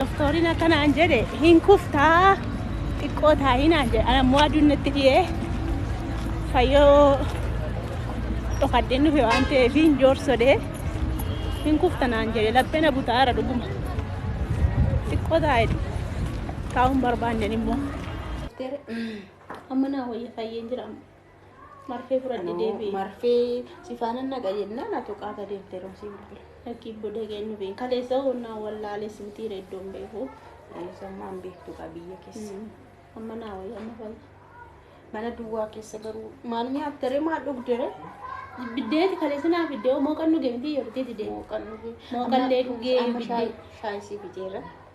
Doktoriin akka naan jedhe hin kuftaa xiqqoo taa'ii naan jedhe ana immoo aduun natti dhiyee fayyoo dhokadheen dhufe waan ta'eef hin joorsodee hin kufta naan jedhe laphee na butaara dhuguma xiqqoo taa'e taa'uun barbaanne immoo. Amma naa wayya fayyeen jira Marfee fudhadhe Anoo deebi'e. marfee si faana naqa jennaan atu qaata deemte yeroo si bilbile. Lakkii booda geenyu beeku. Kaleessa honnaa wallaalee suutii reeddoon beeku. Sammaan beektu kaa biyya keessa. Amma naa wayya amma fayya. Mana duwwaa keessa garuu maal nyaattere maal dhugdere Biddeeti kaleessa naa fiddee mooqan dhugee miti yeroo itti deemu. mooqan dhugee. Mooqallee dhugee Amma shaayii biddee. shaayii si biteera.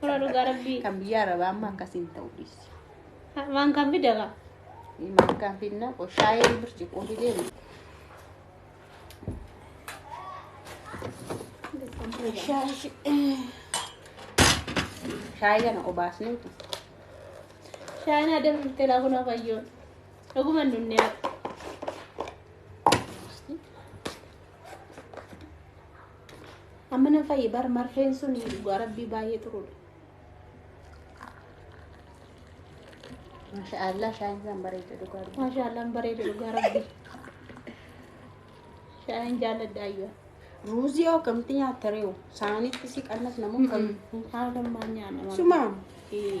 Suuraa dhugaa rabbii. Kan biyya arabaa amma akkasiin ta'u dhiisi. Waan kan fida kaa. Maaf kan finna qoshaayee birciqoo fidee miti. Shaayii kana obaasnee tu. Shaayina adam dhuftee laa kunoo fayyoon. Dhuguma nunni haa. Amma nan fayye bar marfeen sun dhugaa rabbii baay'ee xuruudha. Mashaallah shaayin isaan bareeda dhugaa rabbii. Maashaallah hin bareeda dhugaa rabbii. Shaayin jaalladha ayyaa. Ruuzii hoo akkamitti nyaatta reewu? Saanitti si qannas namoo kam? Haala maa nyaanna. Sumaa. Ee.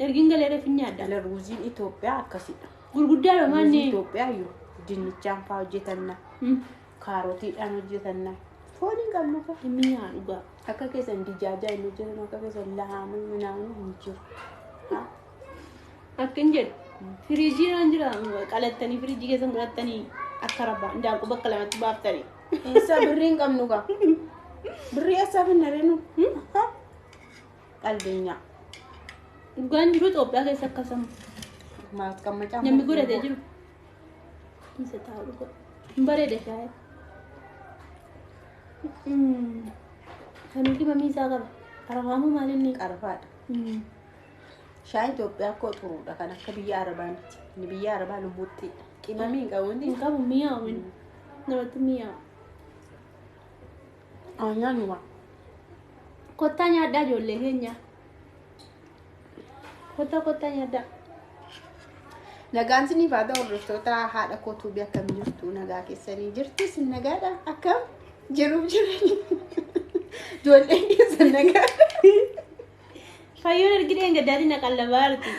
Ergin galee reefin nyaadha. Ila ruuziin Itoophiyaa akkasidha. Gurguddaa dha Ruuzii maanni. Itoophiyaa iyyuu dinnichaan fa'aa hojjetanna. Kaarotiidhaan hojjetanna. Foon hin qabnu kaa. Inni nyaa dhugaa. Akka keessan dijaajaa hin hojjetan akka keessan lahaamuu minaamuu hin jiru. Ha? Akkin jedhu. Firiijii irraan jira. Qalattanii firiijii keessan godhattanii akka rabbaa. Daakuu bakka lamatti baaftanii. Eessaa birrii hin qabnu kaa. Birrii eessaa finna renu? Qalbeenyaa. Dhugaan jiru Itoophiyaa keessa akkasuma. Maaf qammacaa. Namni godhatee jiru. Isa taa'u dhugaa. Hin bareeda shaayee. Kanuu qimamii isaa qaba. Arafaamuu maaliin ni qaba? Qarfaadha. Shaayii Itoophiyaa akkoo xuruudha kan akka biyya Arabaa miti. Inni biyya Arabaa lubbuutti qimamii hin qabu inni. Hin qabu mi'aawin. Namatti mi'aawu. Haa nyaannu gaa. Kottaa nyaadhaa ijoollee keenya. Kottaa kottaa nyaadhaa. Nagaan siniif haa ta'u hordoftoota haadha kootuu biyya akkam jirtu nagaa keessanii jirtu sin nagaadha akkam jiruuf jiranii ijoolleen keessan nagaa Fayyoon ergi dheen gaddaatiin na qallabaa jirti.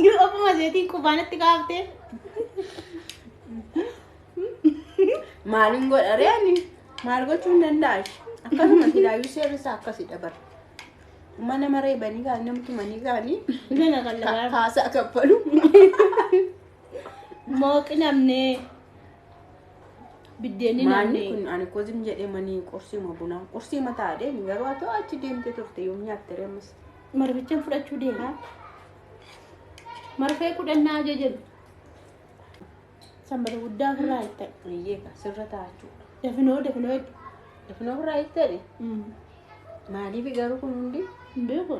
Yoo ofuma seetiin qubaanatti kaaftee. Maaliin godha reeni? Maal gochuu hin danda'a? Akkasuma silaayyuu seerri isaa akkasidha bara. Mana maree banii gaanii namtu manii gaanii Gana kan ka- lagaa. kaasaa kaffalu. Mooqi namnee. Biddeenni Maanni namnee. kun ani kozim jedhee manii qursiima bunaa. Qursiima taa'ee garuu haa ta'u achi deemtee turte yoom nyaatte reemas. Marfichaan fudhachuu deema. Marfee kudhannaa ajajan. Sanbata guddaa ofirraa hiiktee. Biyyee ka sirra taa'achuu. Dafinoo dafinoo hedduu. Dafinoo ofirraa hiikteedhe. Maaliif garuu kun hundi Hin beeku.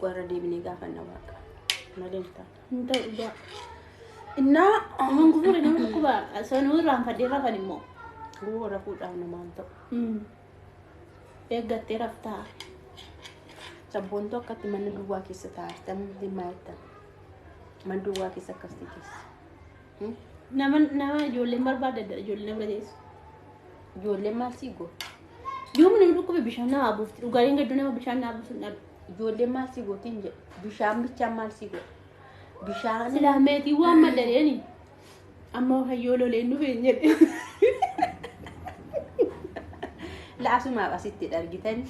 warra deebinee gaafanna waaqa. Malee hin taane. Hin ta'u dhugaa. Innaa Aman gufuu dhanii dhukkuba. Sanuu irraan fadhee rafan immoo. Guu rafuudhaaf namaan ta'u. Eeggattee raftaa. Sabboontuu akkatti mana duwwaa keessa taa'atan dhimma jettan. Man duwwaa keessa akkas teessa. Nama nama ijoolleen barbaadda dha ijoolleen nama teessu. Ijoolleen maal sii goota? Yoom nama dhukkube bishaan nama buufti dhugaaleen gadduu nama bishaan nama buusu hin dhabu. Ijoolleen maal sii goota hin jedhu. Bishaan bichaan maal sii goota? Bishaan Silaa meetii waan madaleeni amma hayyoo loleen dhufe hin jedhe. laasumaaf asitti dhargitan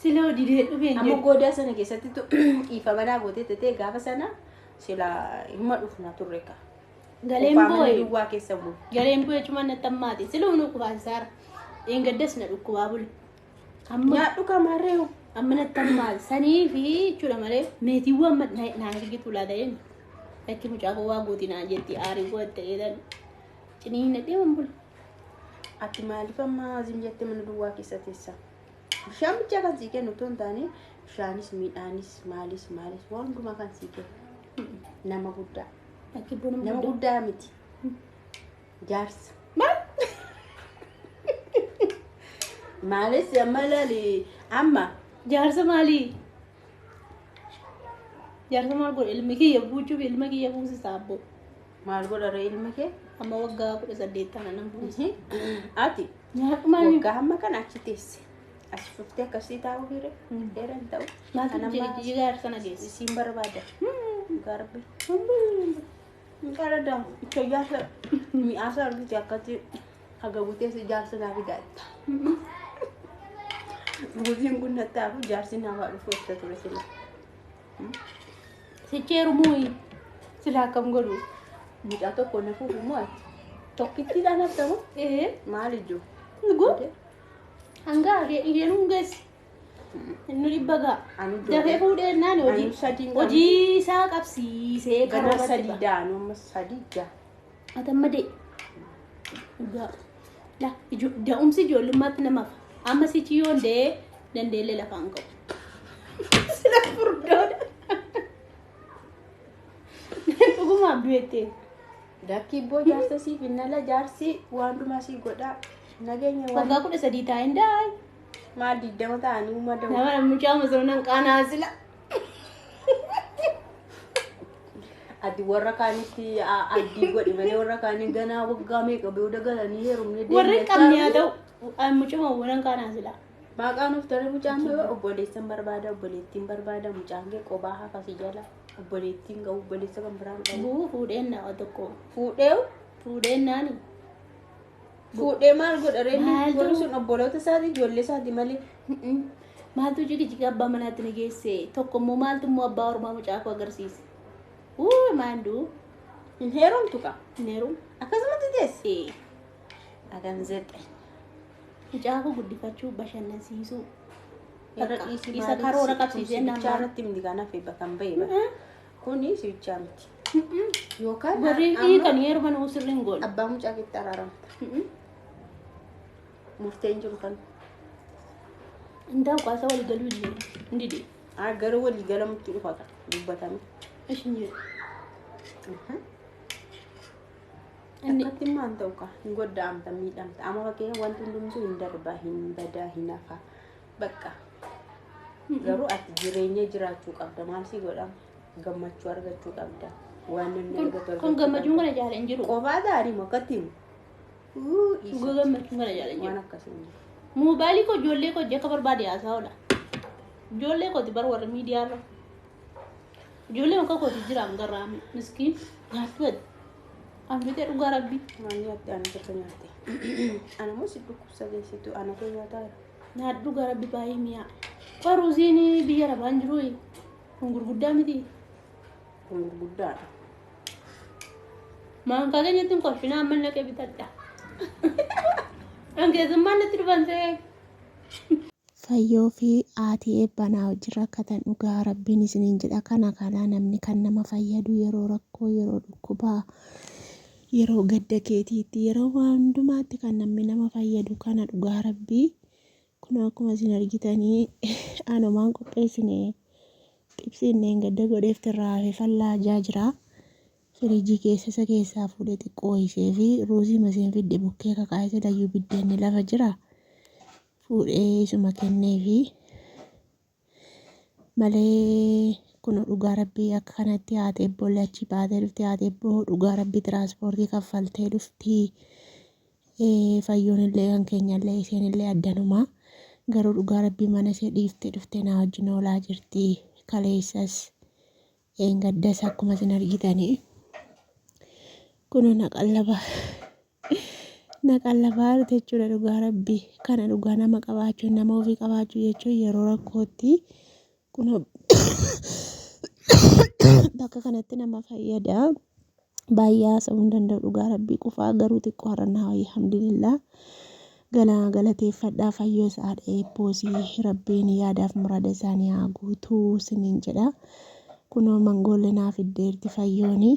Sila hojii didee dhufe hin Amma goodaa sana keessatti tu dhiifama naa gootee tetee gaafa sana sila himma dhufna turre ka. Galeen Qophaa'amanii boo'e. duwwaa keessa bulu. Galeen boo'e cumaan natti hammaate. Sila humna qubaasaara. Dheengaddas na dhukkubaa bule. Amma Nyaadhu kamaarree hoo. amma natti hammaate. Sanii fi jechuudha malee meetiiwwan amma na- naa hirgitu laata jenna. Lakki mucaa koo waa gooti naa jetti aarii koo itti jedhan. Cinii hin dhadheeman bule. Ati maaliif amma azim jettee mana duwwaa keessa teessa? Bishaan bichaa kan sii kennu otoo hin taane bishaanis midhaanis maalis maalis waan hundumaa kan sii kennu nama guddaa. Akka iddoo nama Nama guddaa. guddaa miti. Jaarsa. Maal? Maalis amma ilaali amma Jaarsa maalii? Jaarsa maal godhe ilmi kiyya buuchuuf ilma kiyya buusisa abboo. Maal godha ree ilma kee? Amma waggaa kudha saddeet taana nan buuse. Ati Nyaadhumaan waggaa hamma kana achi teesse. As cuftee akkasii taa'uu hire. Dheera hin ta'u. maaltu Kan amma jigaar sana geesse? isiin barbaada. Garbi. Hin qarada. Ichoyyaa sa mi'aa sa argite akkatti haga butee si jaarsa naa fidaa jetta. Buutiin kun nattaafu jaarsi namaa dhufu itti ture sila. Sicheeru muuyi silaa akkam godhu mucaa tokko na fuudhu moo ati tokkittiidhaan haftamu ee maal ijoo nugu hanga argee dhigeen hungeessi inni dhibba gaa anu dafee fuudhee naan hojii Anu sadii hin qabne. hojii isaa qabsiisee gara karoora sadii dha anu amma sadii jaha Ati amma de dhugaa la ijo- da'umsi ijoollummaatti namaaf amma sichi yoon dee dandeellee lafaan ka'u. Sila furdoodha. Dhugumaan du'ettee. Dakkii boo jaarsa siif hin ala jaarsi waan dhumaa sii godhaa. Nageenya waan Waggaa kudha sadii taa'een daa'e. maal digdama ta'anii uumaa da'u. Nama mucaa masoonan qaanaa sila. Ati warra kaanitti a- addii godhi malee warra kaanii ganaa waggaa meeqa booda galanii heerumni Warri hin qabne haa ta'u. An mucuma waan kaanaa silaa. Baaqaa nuuf tole mucaan kee obboleessan barbaada obboleettiin barbaada mucaan kee qobaa hafasii jala obboleettiin qabu obboleessa kan biraan qabu Buu fuudheen naa tokko. fuudhee Fuudheen naani. Fuudhee maal godha ree inni? Maaltu- Warri sun obboloota isaati ijoollee isaati malee. Mm-mm. Maaltu jigijiga abbaa manaatti na geesse? Tokko immoo maaltu immoo abbaa ormaa mucaa koo agarsiise? Uu maanduu Hin heerumtu qa. hin heerumu. Akkasumatti teesse. Ee, Adan zexe. Mucaa koo guddifachuu bashannansiisuu. Bakka dhiisii Isa maalii karoora si qabsiisee tumsi bichaa namaa. irratti miti kan hafe bakka hin bahe bakka. Mm-mm. Kuni si bichaa miti. Yookaan Warri amma dhiitan yeroo kana sirriin goone. abbaa mucaa keetti araaramta. Murteen jiru kan. Indaa ukaasa walii galuu hin jiru. Hin dide. Ah, Gara walii galamutti dhufa kan dubbatame. Ishi hin jiru. Inni Akkatti immoo hin ta'u kaa. Hin goddaamta miidhamta. Amma fakkeenya wanti hundumtuu hin darbaa hin badaa hin hafaa. Bakka. Garuu ati jireenya jiraachuu qabda. Maal si godha? Gammachuu argachuu qabda. Waan namni Kun- argatu argachuu kun gammachuun qabda. kana jaala hin jiru. Qofaa gaarii moo akkatti himu? Uu, isa. Dhugaa gammachuun kana jaala hin jiru. Waan akkasii hin jiru. Moobaalii koo ijoollee koo akka barbaade haasaa oola. Ijoollee kooti bar warri miidiyaa irra. Ijoollee akka kooti jiraam garraami. Miskiin nyaatti bade. Anfitee dhugaa rabbii. Maal nyaatte? Ana tokko nyaatte. Ana moo si dhukkubsa geessitu? Ana kee nyaataa jira. nyaadhu gara bibaayii miyaa qoy ruuziin biyya rabaan jiruu kun gurguddaa miti kun gurguddaadha maankaa keenyatti hin kolfinaa amma naqee bitadha an keessummaan natti dhufan ta'ee fayyoo fi aatii eebbanaa hojii rakkatan dhugaa rabbiin isiniin jedha kana kanaa namni kan nama fayyadu yeroo rakkoo yeroo dhukkubaa Yeroo gadda keetiitti, yeroo waa hundumaatti kan namni nama fayyadu kana dhugaa rabbii. Kunoo akkuma isin argitanii anumaan qopheessine xibsiin dheengadda godheef irraa hafe fallaajaa jira. Firiijii keessa isa keessaa fuudhee xiqqoo ho'isee fi ruuzii masiin fidde bukkee kakaa'e silayyuu biddeenni lafa jira. Fuudhee isuma kennee fi malee kuno dhugaa rabbii akka kanatti haati ebboollee achii baatee dhufti haati ebboo dhugaa rabbii tiraanspoortii kaffaltee dhufti Eh, fayyoon illee kan keenya illee isheen illee addanuma garuu dhugaa rabbii mana ishee dhiiftee dhuftee naa wajjin oolaa jirti kaleessas eengaddas akkuma isin argitanii kuno na qallaba Na qallabaa dhute jechuudha dhugaa rabbi. Kana dhugaa nama qabaachuu nama ofii qabaachuu jechuun yeroo rakkootti kun bakka kanatti nama fayyada. Baay'ee haasa'uu hin danda'u dhugaa rabbii qufaa garuu xiqqoo har'a naa wayya alhamdulillah. Gala galateeffadhaa fayyoo sa'aadha eebboosii rabbiin yaadaaf murada isaanii haa guutuu siniin jedha. Kunoo mangoollee naa fiddeerti fayyoonii.